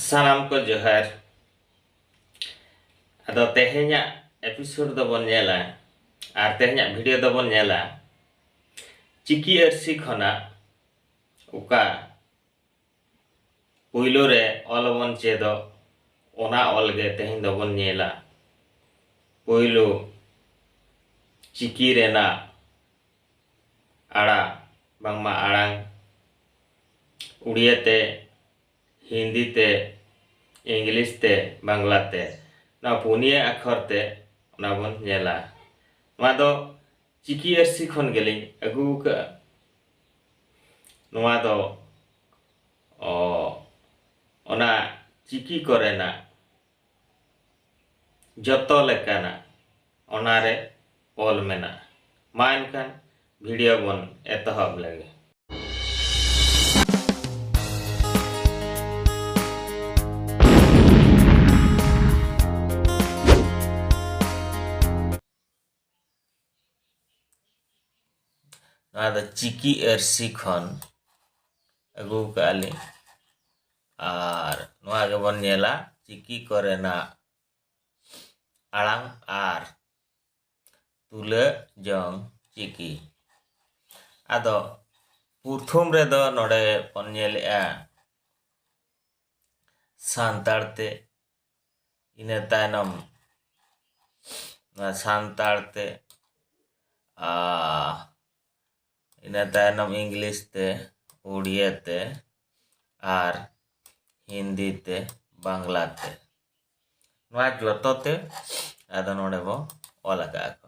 ᱥᱟᱱᱟᱢ ᱠᱚ ᱡᱚᱦᱟᱨ ᱟᱫᱚ ᱛᱮᱦᱮᱧᱟᱜ ᱮᱯᱤᱥᱳᱰ ᱫᱚᱵᱚᱱ ᱧᱮᱞᱟ ᱟᱨ ᱛᱮᱦᱮᱧᱟᱜ ᱵᱷᱤᱰᱤᱭᱳ ᱫᱚᱵᱚᱱ ᱧᱮᱞᱟ ᱪᱤᱠᱤ ᱟᱹᱨᱥᱤ ᱠᱷᱚᱱᱟᱜ ᱚᱠᱟ ᱯᱩᱭᱞᱳ ᱨᱮ ᱚᱞ ᱵᱚᱱ ᱪᱮᱫᱚᱜ ᱚᱱᱟ ᱚᱞ ᱜᱮ ᱛᱮᱦᱮᱧ ᱫᱚᱵᱚᱱ ᱧᱮᱞᱟ ᱯᱩᱭᱞᱳ ᱪᱤᱠᱤ ᱨᱮᱱᱟᱜ ᱟᱲᱟ ᱵᱟᱝᱢᱟ ᱟᱲᱟᱝ ᱩᱲᱤᱭᱟ ᱛᱮ ᱦᱤᱱᱫᱤ ᱛᱮ ᱤᱝᱞᱤᱥ ᱛᱮ ᱵᱟᱝᱞᱟ ᱛᱮ ᱱᱚᱣᱟ ᱯᱩᱱᱭᱟᱹ ᱟᱠᱷᱚᱨ ᱛᱮ ᱚᱱᱟ ᱵᱚᱱ ᱧᱮᱞᱟ ᱱᱚᱣᱟ ᱫᱚ ᱪᱤᱠᱤ ᱟᱹᱨᱥᱤ ᱠᱷᱚᱱ ᱜᱮᱞᱤᱧ ᱟᱹᱜᱩ ᱟᱠᱟᱫᱼᱟ ᱱᱚᱣᱟ ᱫᱚ ᱚᱱᱟ ᱪᱤᱠᱤ ᱠᱚᱨᱮᱱᱟᱜ ᱡᱚᱛᱚ ᱞᱮᱠᱟᱱᱟᱜ ᱚᱱᱟ ᱨᱮ ᱚᱞ ᱢᱮᱱᱟᱜᱼᱟ᱾ ᱢᱟ ᱮᱱᱠᱷᱟᱱ ᱵᱷᱤᱰᱤᱭᱳ ᱵᱚᱱ ᱮᱛᱚᱦᱚᱵ ᱞᱮᱜᱮ᱾ ᱱᱚᱣᱟ ᱫᱚ ᱪᱤᱠᱤ ᱟᱹᱨᱥᱤ ᱠᱷᱚᱱ ᱟᱹᱜᱩ ᱠᱟᱜᱼᱟ ᱞᱤᱧ ᱟᱨ ᱱᱚᱣᱟ ᱜᱮᱵᱚᱱ ᱧᱮᱞᱟ ᱪᱤᱠᱤ ᱠᱚᱨᱮᱱᱟᱜ ᱟᱲᱟᱝ ᱟᱨ ᱛᱩᱞᱟᱹ ᱡᱚᱝ ᱪᱤᱠᱤ ᱟᱫᱚ ᱯᱨᱚᱛᱷᱚᱢ ᱨᱮᱫᱚ ᱱᱚᱰᱮ ᱵᱚᱱ ᱧᱮᱞᱮᱜᱼᱟ ᱥᱟᱱᱛᱟᱲ ᱛᱮ ᱤᱱᱟᱹ ᱛᱟᱭᱱᱚᱢ ᱱᱚᱣᱟ ᱥᱟᱱᱛᱟᱲ ᱛᱮ ᱤᱱᱟᱹ ᱛᱟᱭᱱᱚᱢ ᱤᱝᱞᱤᱥ ᱛᱮ ᱩᱲᱤᱭᱟ ᱛᱮ ᱟᱨ ᱦᱤᱱᱫᱤ ᱛᱮ ᱵᱟᱝᱞᱟ ᱛᱮ ᱱᱚᱣᱟ ᱡᱚᱛᱚ ᱛᱮ ᱟᱫᱚ ᱱᱚᱰᱮ ᱵᱚ ᱚᱞ ᱟᱠᱟᱫ ᱠᱚ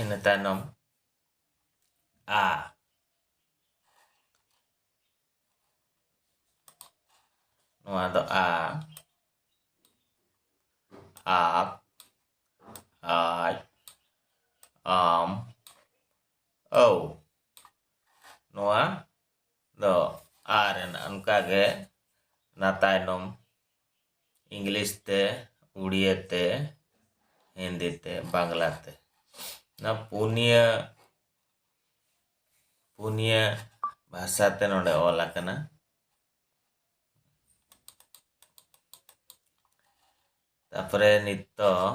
ᱤᱱᱟᱹ ᱛᱟᱭᱱᱚᱢ ᱟ ᱱᱚᱣᱟ ᱫᱚ ᱟ ᱟᱯ ᱟᱡ ᱟᱢ ᱟᱹᱣ ᱱᱚᱣᱟ ᱫᱚ ᱟᱨ ᱮᱱ ᱚᱱᱠᱟ ᱜᱮ ᱚᱱᱟ ᱛᱟᱭᱱᱚᱢ ᱤᱝᱞᱤᱥ ᱛᱮ ᱩᱲᱤᱭᱟᱹ ᱛᱮ ᱦᱤᱱᱫᱤ ᱛᱮ ᱵᱟᱝᱞᱟ ᱛᱮ ᱚᱱᱟ ᱯᱩᱱᱭᱟᱹ ᱯᱩᱱᱭᱟᱹ ᱵᱷᱟᱥᱟ ᱛᱮ ᱱᱚᱰᱮ ᱚᱞ ᱟᱠᱟᱱᱟ ᱛᱟᱯᱚᱨᱮ ᱱᱤᱛᱚᱜ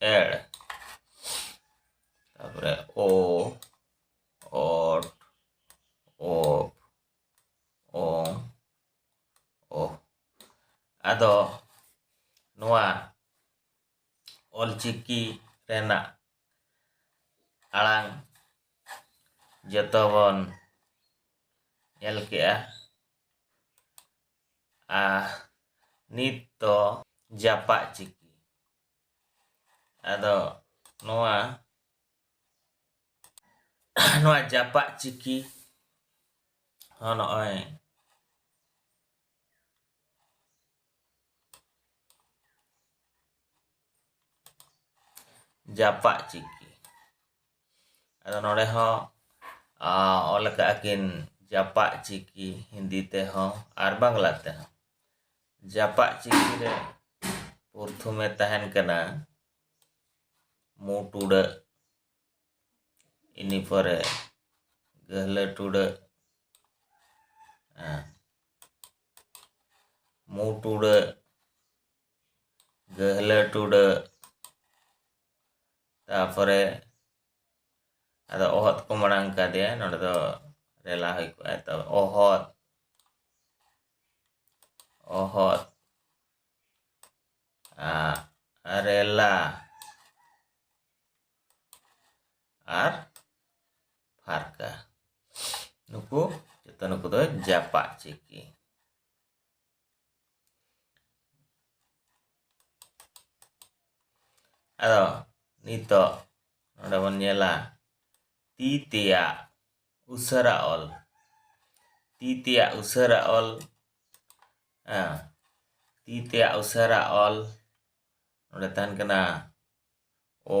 ᱮᱲ ᱛᱟᱯᱚᱨᱮ ᱳ ᱚᱴ ᱳᱯ ᱳᱝ ᱳ ᱟᱫᱚ ᱱᱚᱣᱟ ᱚᱞᱪᱤᱠᱤ ᱨᱮᱱᱟᱜ ᱟᱲᱟᱝ ᱡᱚᱛᱚ ᱵᱚᱱ ᱧᱮᱞ ᱠᱮᱜᱼᱟ ᱟᱨ ᱱᱤᱛ ᱫᱚ ᱡᱟᱯᱟᱜ ᱪᱤᱠᱤ ᱟᱫᱚ ᱱᱚᱣᱟ ᱱᱚᱣᱟ ᱡᱟᱯᱟᱜ ᱪᱤᱠᱤ ᱦᱚᱸ ᱱᱚᱜᱼᱚᱭ ᱡᱟᱯᱟᱜ ᱪᱤᱠᱤ ᱟᱫᱚ ᱱᱚᱰᱮ ᱦᱚᱸ ᱚᱞ ᱟᱠᱟᱫ ᱟᱹᱠᱤᱱ ᱡᱟᱯᱟᱜ ᱪᱤᱠᱤ ᱦᱤᱱᱫᱤ ᱛᱮᱦᱚᱸ ᱟᱨ ᱵᱟᱝᱞᱟ ᱛᱮᱦᱚᱸ ᱡᱟᱯᱟᱜ ᱪᱤᱠᱤ ᱨᱮ ᱯᱨᱚᱛᱷᱚᱢᱮ ᱛᱟᱦᱮᱱ ᱠᱟᱱᱟ ᱢᱩ ᱴᱩᱰᱟᱹᱜ ᱤᱱᱟᱹ ᱯᱚᱨᱮ ᱜᱟᱹᱦᱞᱟᱹ ᱴᱩᱰᱟᱹᱜ ᱢᱩ ᱴᱩᱰᱟᱹᱜ ᱜᱟᱹᱦᱞᱟᱹ ᱴᱩᱰᱟᱹᱜ ᱛᱟᱯᱚᱨᱮ ᱟᱫᱚ ᱚᱦᱚᱫ ᱠᱚ ᱢᱟᱲᱟᱝ ᱠᱟᱫᱮᱭᱟ ᱱᱚᱰᱮ ᱫᱚ ᱨᱮᱞᱟ ᱦᱩᱭ ᱠᱚᱜᱼᱟ ᱛᱚ ᱚᱦᱚᱫ ᱚᱦᱚᱫ ᱨᱮᱞᱟ ᱟᱨ ᱯᱷᱟᱨᱠᱟ ᱱᱩᱠᱩ ᱡᱚᱛᱚ ᱱᱩᱠᱩ ᱫᱚ ᱡᱟᱯᱟᱜ ᱪᱤᱠᱤ ᱟᱫᱚ ᱱᱤᱛᱚᱜ ᱱᱚᱰᱮ ᱵᱚᱱ ᱧᱮᱞᱟ ᱛᱤ ᱛᱮᱭᱟᱜ ᱩᱥᱟᱹᱨᱟ ᱚᱞ ᱛᱤ ᱛᱮᱭᱟᱜ ᱩᱥᱟᱹᱨᱟ ᱚᱞ ᱛᱤ ᱛᱮᱭᱟᱜ ᱩᱥᱟᱹᱨᱟ ᱚᱞ ᱱᱚᱰᱮ ᱛᱟᱦᱮᱱ ᱠᱟᱱᱟ ᱚ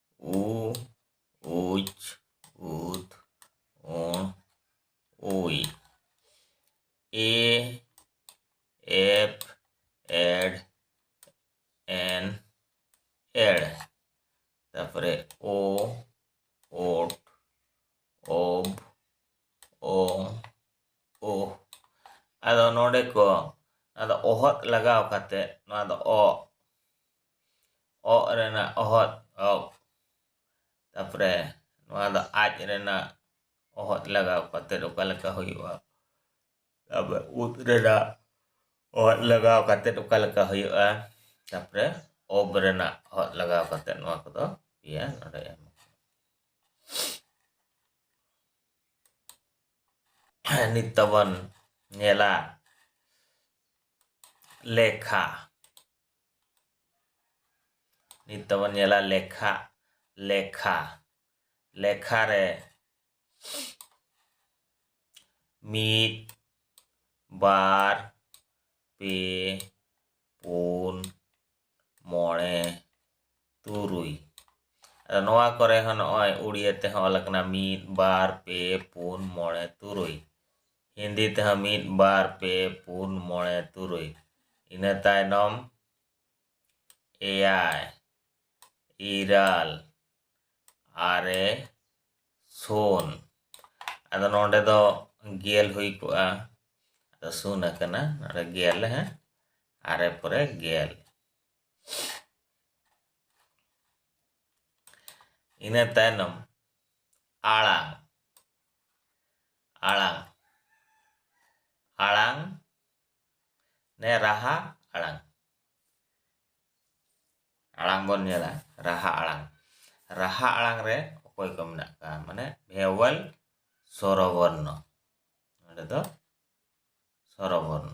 ᱩ ᱩᱡ ᱩᱫ ᱚᱸ ᱩᱭ ᱮ ᱮᱯ ᱮᱰ ᱮᱱ ᱮᱲ ᱛᱟᱯᱚᱨᱮ ᱳ ᱳᱴ ᱳᱵ ᱳ ᱳ ᱟᱫᱚ ᱱᱚᱰᱮ ᱠᱚ ᱟᱫᱚ ᱚᱦᱚᱫ ᱞᱟᱜᱟᱣ ᱠᱟᱛᱮ ᱱᱚᱣᱟ ᱫᱚ ᱚ ᱚᱜ ᱨᱮᱱᱟᱜ ᱚᱦᱚᱫ ᱚᱜ ᱛᱟᱯᱚᱨᱮ ᱱᱚᱣᱟ ᱫᱚ ᱟᱡ ᱨᱮᱱᱟᱜ ᱚᱦᱚᱫ ᱞᱟᱜᱟᱣ ᱠᱟᱛᱮᱫ ᱚᱠᱟ ᱞᱮᱠᱟ ᱦᱩᱭᱩᱜᱼᱟ ᱛᱟᱯᱚᱨᱮ ᱩᱫ ᱨᱮᱱᱟᱜ ᱚᱦᱚᱫ ᱞᱟᱜᱟᱣ ᱠᱟᱛᱮᱫ ᱚᱠᱟ ᱞᱮᱠᱟ ᱦᱩᱭᱩᱜᱼᱟ ᱛᱟᱯᱚᱨᱮ ᱚᱵ ᱨᱮᱱᱟᱜ ᱚᱦᱚᱫ ᱞᱟᱜᱟᱣ ᱠᱟᱛᱮᱫ ᱱᱚᱣᱟ ᱠᱚᱫᱚ ᱯᱮᱭᱟ ᱱᱚᱰᱮ ᱮᱢ ᱱᱤᱛ ᱫᱚᱵᱚᱱ ᱧᱮᱞᱟ ᱞᱮᱠᱷᱟ ᱱᱤᱛ ᱫᱚᱵᱚᱱ ᱧᱮᱞᱟ ᱞᱮᱠᱷᱟ ᱞᱮᱠᱷᱟ ᱞᱮᱠᱷᱟ ᱨᱮ ᱢᱤᱫ ᱵᱟᱨ ᱯᱮ ᱯᱩᱱ ᱢᱚᱬᱮ ᱛᱩᱨᱩᱭ ᱟᱫᱚ ᱱᱚᱣᱟ ᱠᱚᱨᱮ ᱦᱚᱸ ᱱᱚᱜᱼᱚᱭ ᱩᱲᱤᱭᱟᱹ ᱛᱮᱦᱚᱸ ᱚᱞ ᱟᱠᱟᱱᱟ ᱢᱤᱫ ᱵᱟᱨ ᱯᱮ ᱯᱩᱱ ᱢᱚᱬᱮ ᱛᱩᱨᱩᱭ ᱦᱤᱱᱫᱤ ᱛᱮᱦᱚᱸ ᱢᱤᱫ ᱵᱟᱨ ᱯᱮ ᱯᱩᱱ ᱢᱚᱬᱮ ᱛᱩᱨᱩᱭ ᱤᱱᱟᱹ ᱛᱟᱭᱱᱚᱢ ᱮᱭᱟᱭ ᱤᱨᱟᱹᱞ ᱟᱨᱮ ᱥᱩᱱ ᱟᱫᱚ ᱱᱚᱰᱮ ᱫᱚ ᱜᱮᱞ ᱦᱩᱭ ᱠᱚᱜᱼᱟ ᱟᱫᱚ ᱥᱩᱱ ᱟᱠᱟᱱᱟ ᱱᱚᱰᱮ ᱜᱮᱞ ᱦᱮᱸ ᱟᱨᱮ ᱯᱚᱨᱮ ᱜᱮᱞ ᱤᱱᱟᱹ ᱛᱟᱭᱱᱚᱢ ᱟᱲᱟᱝ ᱟᱲᱟᱝ ᱟᱲᱟᱝ ᱱᱮ ᱨᱟᱦᱟ ᱟᱲᱟᱝ ᱟᱲᱟᱝ ᱵᱚᱱ ᱧᱮᱞᱟ ᱨᱟᱦᱟ ᱟᱲᱟᱝ ᱨᱟᱦᱟ ᱟᱲᱟᱝ ᱨᱮ ᱚᱠᱚᱭ ᱠᱚ ᱢᱮᱱᱟᱜ ᱠᱚᱣᱟ ᱢᱟᱱᱮ ᱵᱷᱮᱣᱮᱞ ᱥᱚᱨᱚᱵᱚᱨᱱᱚ ᱱᱚᱸᱰᱮ ᱫᱚ ᱥᱚᱨᱚᱵᱚᱨᱱᱚ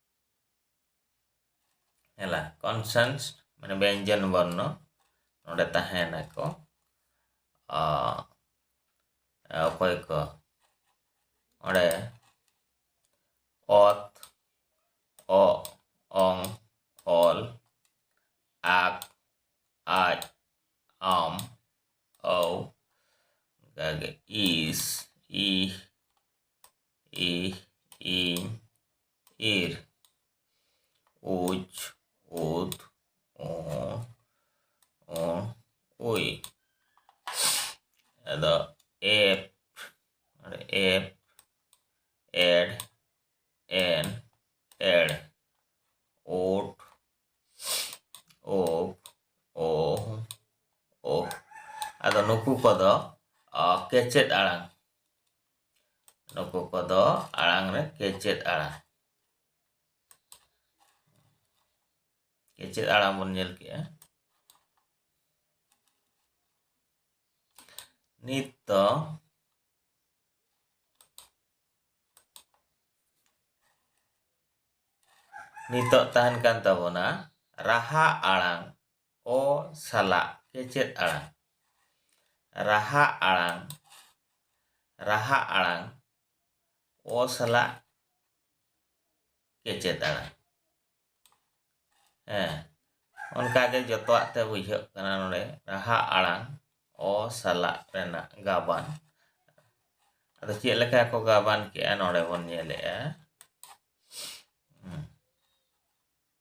ᱦᱮᱞᱟ ᱠᱚᱱᱥᱮᱱᱥ ᱢᱟᱱᱮ ᱵᱮᱧᱡᱚᱱ ᱵᱚᱨᱱᱚ ᱱᱚᱰᱮ ᱛᱟᱦᱮᱱᱟᱠᱚ ᱚᱠᱚᱭ ᱠᱚ ᱚᱸᱰᱮ ᱚᱛ ᱚ ᱚᱝ ᱚᱞ ᱟᱠ ᱟᱡ ᱟᱢ ᱚ ᱚᱱᱠᱟᱜᱮ ᱤᱥ ᱤ ᱤ ᱤ ᱤᱨ ᱩᱡ ᱩᱫ ᱚ ᱚ ᱩᱭ ᱟᱫᱚ ᱮᱯ ᱮᱯ ᱮᱰ ᱮᱱ ᱮᱲ ᱳᱴ ᱳᱯ ᱳ ᱳ ᱟᱫᱚ ᱱᱩᱠᱩ ᱠᱚᱫᱚ ᱠᱮᱪᱮᱫ ᱟᱲᱟᱝ ᱱᱩᱠᱩ ᱠᱚᱫᱚ ᱟᱲᱟᱝ ᱨᱮ ᱠᱮᱪᱮᱫ ᱟᱲᱟᱝ ᱠᱮᱪᱮᱫ ᱟᱲᱟᱝ ᱵᱚᱱ ᱧᱮᱞ ᱠᱮᱜᱼᱟ ᱱᱤᱛ ᱫᱚ ᱱᱤᱛᱚᱜ ᱛᱟᱦᱮᱱ ᱠᱟᱱ ᱛᱟᱵᱚᱱᱟ ᱨᱟᱦᱟ ᱟᱲᱟᱝ ᱚ ᱥᱟᱞᱟᱜ ᱠᱮᱪᱮᱫ ᱟᱲᱟᱝ ᱨᱟᱦᱟ ᱟᱲᱟᱝ ᱨᱟᱦᱟ ᱟᱲᱟᱝ ᱚ ᱥᱟᱞᱟᱜ ᱠᱮᱪᱮᱫ ᱟᱲᱟᱝ ᱦᱮᱸ ᱚᱱᱠᱟᱜᱮ ᱡᱚᱛᱚᱣᱟᱜ ᱛᱮ ᱵᱩᱡᱷᱟᱹᱜ ᱠᱟᱱᱟ ᱱᱚᱰᱮ ᱨᱟᱦᱟ ᱟᱲᱟᱝ ᱚ ᱥᱟᱞᱟᱜ ᱨᱮᱱᱟᱜ ᱜᱟᱵᱟᱱ ᱟᱫᱚ ᱪᱮᱫ ᱞᱮᱠᱟ ᱠᱚ ᱜᱟᱵᱟᱱ ᱠᱮᱜᱼᱟ ᱱᱚᱰᱮ ᱵᱚᱱ ᱧᱮᱞᱮᱜᱼᱟ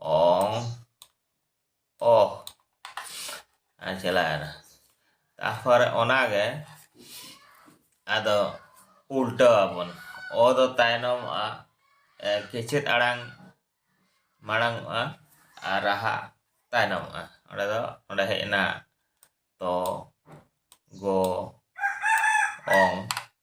ong oh ᱟᱨ ᱪᱟᱞᱟᱣᱮᱱᱟ ᱛᱟᱨᱯᱚᱨᱮ ᱚᱱᱟᱜᱮ ᱟᱫᱚ ᱩᱞᱴᱟᱹᱣ ᱟᱵᱚᱱ ᱚ ᱫᱚ ᱛᱟᱭᱱᱚᱢᱚᱜᱼᱟ ᱠᱮᱪᱮᱫ ᱟᱲᱟᱝ ᱢᱟᱲᱟᱝᱚᱜᱼᱟ ᱟᱨ ᱨᱟᱦᱟ ᱛᱟᱭᱱᱚᱢᱚᱜᱼᱟ ᱚᱸᱰᱮ ᱫᱚ ᱚᱸᱰᱮ ᱦᱮᱡ ᱮᱱᱟ ᱛᱚ ᱜᱚ ᱚᱝ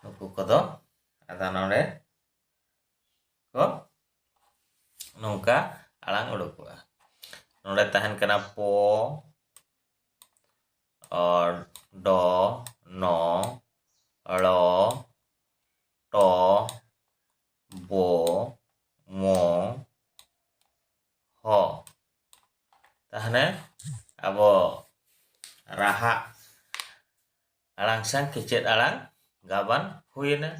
ᱱᱩᱠᱩ ᱠᱚᱫᱚ ᱟᱫᱚ ᱱᱚᱰᱮ ᱠᱚ ᱱᱚᱝᱠᱟ ᱟᱲᱟᱝ ᱩᱰᱩᱠᱚᱜᱼᱟ ᱱᱚᱰᱮ ᱛᱟᱦᱮᱱ ᱠᱟᱱᱟ ᱯᱚ ᱚᱨ ᱰᱚ ᱱᱚ ᱲᱚ ᱴᱚ ᱵᱚ ᱢᱚ ᱦᱚ ᱛᱟᱦᱚᱞᱮ ᱟᱵᱚ ᱨᱟᱦᱟ ᱟᱲᱟᱝ ᱥᱟᱝ ᱠᱮᱪᱮᱫ ᱟᱲᱟᱝ ᱜᱟᱵᱟᱱ ᱦᱩᱭ ᱮᱱᱟ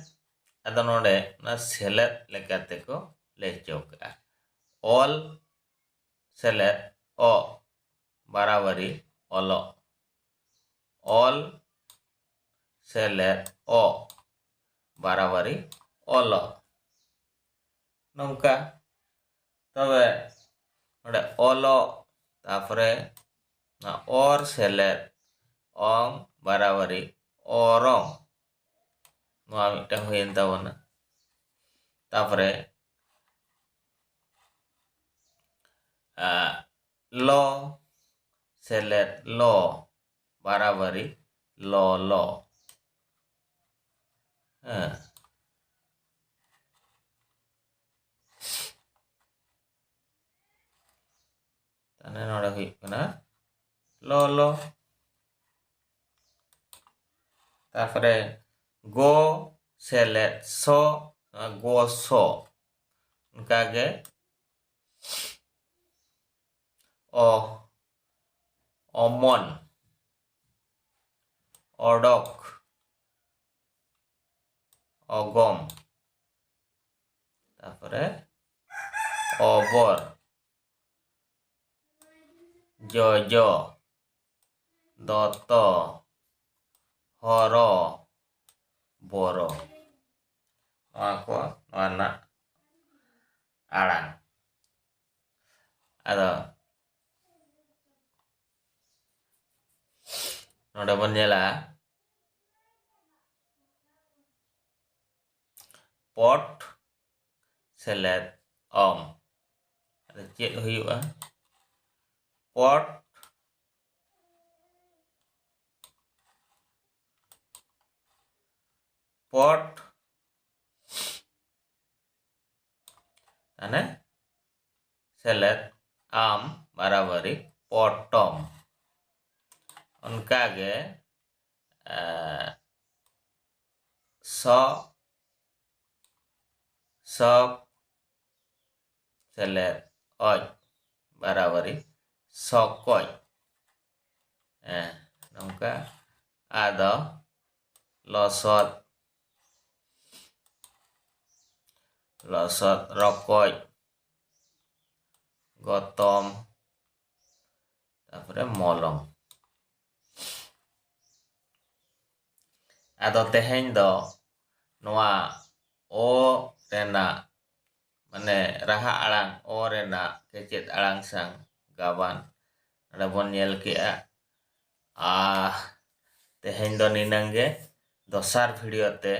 ᱟᱫᱚ ᱱᱚᱸᱰᱮ ᱚᱱᱟ ᱥᱮᱞᱮᱫ ᱞᱮᱠᱟ ᱛᱮᱠᱚ ᱞᱟᱹᱭ ᱦᱚᱪᱚ ᱠᱟᱜᱼᱟ ᱚᱞ ᱥᱮᱞᱮᱫ ᱚ ᱵᱟᱨᱟᱵᱟᱨᱤ ᱚᱞᱚᱜ ᱚᱞ ᱥᱮᱞᱮᱫ ᱚ ᱵᱟᱨᱟᱵᱟᱨᱤ ᱚᱞᱚᱜ ᱱᱚᱝᱠᱟ ᱛᱚᱵᱮ ᱱᱚᱰᱮ ᱚᱞᱚᱜ ᱛᱟᱯᱚᱨᱮ ᱱᱚᱣᱟ ᱚᱨ ᱥᱮᱞᱮᱫ ᱚᱝ ᱵᱟᱨᱟᱵᱟᱨᱤ ᱚᱨᱚᱝ ᱱᱚᱣᱟ ᱢᱤᱫᱴᱟᱝ ᱦᱩᱭᱮᱱ ᱛᱟᱵᱚᱱᱟ ᱛᱟᱯᱚᱨᱮ ᱞᱚ ᱥᱮᱞᱮᱫ ᱞᱚ ᱵᱟᱨᱟᱵᱟᱨᱤ ᱞᱚᱞᱚ ᱦᱮᱸ ᱛᱟᱦᱞᱮ ᱱᱚᱰᱮ ᱦᱩᱭᱩᱜ ᱠᱟᱱᱟ ᱞᱚᱞᱚ ᱛᱟᱨᱯᱚᱨᱮ ᱜᱚ ᱥᱮᱞᱮᱫ ᱥᱚ ᱜᱚ ᱥᱚ ᱚᱱᱠᱟᱜᱮ ᱚ ᱚᱢᱚᱱ ᱚᱰᱚᱠ ᱚᱜᱚᱢ ᱛᱟᱯᱚᱨᱮ ᱚᱵᱚᱨ ᱡᱚᱡᱚ ᱫᱚᱛᱚ ᱦᱚᱨᱚ ᱵᱚᱨᱚ ᱱᱚᱣᱟ ᱠᱚ ᱱᱚᱣᱟ ᱨᱮᱱᱟᱜ ᱟᱲᱟᱝ ᱟᱫᱚ ᱱᱚᱰᱮ ᱵᱚᱱ ᱧᱮᱞᱟ ᱯᱚᱴ ᱥᱮᱞᱮᱫ ᱚᱢ ᱟᱫᱚ ᱪᱮᱫ ᱦᱩᱭᱩᱜᱼᱟ ᱯᱚᱴ ᱯᱚᱴ ᱛᱟᱦᱚᱞᱮ ᱥᱮᱞᱮᱫ ᱟᱢ ᱵᱟᱨᱟᱵᱟᱨᱤ ᱯᱚᱴᱚᱢ ᱚᱱᱠᱟᱜᱮ ᱥᱚ ᱥᱚᱵ ᱥᱮᱞᱮᱫ ᱚᱡ ᱵᱟᱨᱟᱵᱟᱨᱤ ᱥᱚᱠᱚᱡ ᱦᱮᱸ ᱱᱚᱝᱠᱟ ᱟᱫᱚ ᱞᱚᱥᱚᱫ ᱞᱚᱥᱚᱫ ᱨᱚᱠᱚᱡ ᱜᱚᱛᱚᱢ ᱛᱟᱯᱚᱨᱮ ᱢᱚᱞᱚᱝ ᱟᱫᱚ ᱛᱮᱦᱮᱧ ᱫᱚ ᱱᱚᱣᱟ ᱚ ᱨᱮᱱᱟᱜ ᱢᱟᱱᱮ ᱨᱟᱦᱟ ᱟᱲᱟᱝ ᱚ ᱨᱮᱱᱟᱜ ᱠᱮᱪᱮᱫ ᱟᱲᱟᱝ ᱥᱟᱶ ᱜᱟᱵᱟᱱ ᱱᱚᱰᱮ ᱵᱚᱱ ᱧᱮᱞ ᱠᱮᱜᱼᱟ ᱟᱨ ᱛᱮᱦᱮᱧ ᱫᱚ ᱱᱤᱱᱟᱹᱝ ᱜᱮ ᱫᱚᱥᱟᱨ ᱵᱷᱤᱰᱤᱭᱳ ᱛᱮ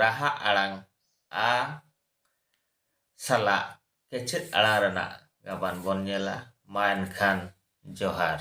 ᱨᱟᱦᱟ ᱟᱲᱟᱝ ᱟ ᱥᱟᱞᱟᱜ ᱠᱮᱪᱮᱫ ᱟᱲᱟᱝ ᱨᱮᱱᱟᱜ ᱜᱟᱵᱟᱱ ᱵᱚᱱ ᱧᱮᱞᱟ ᱢᱟ ᱮᱱᱠᱷᱟᱱ ᱡᱚᱦᱟᱨ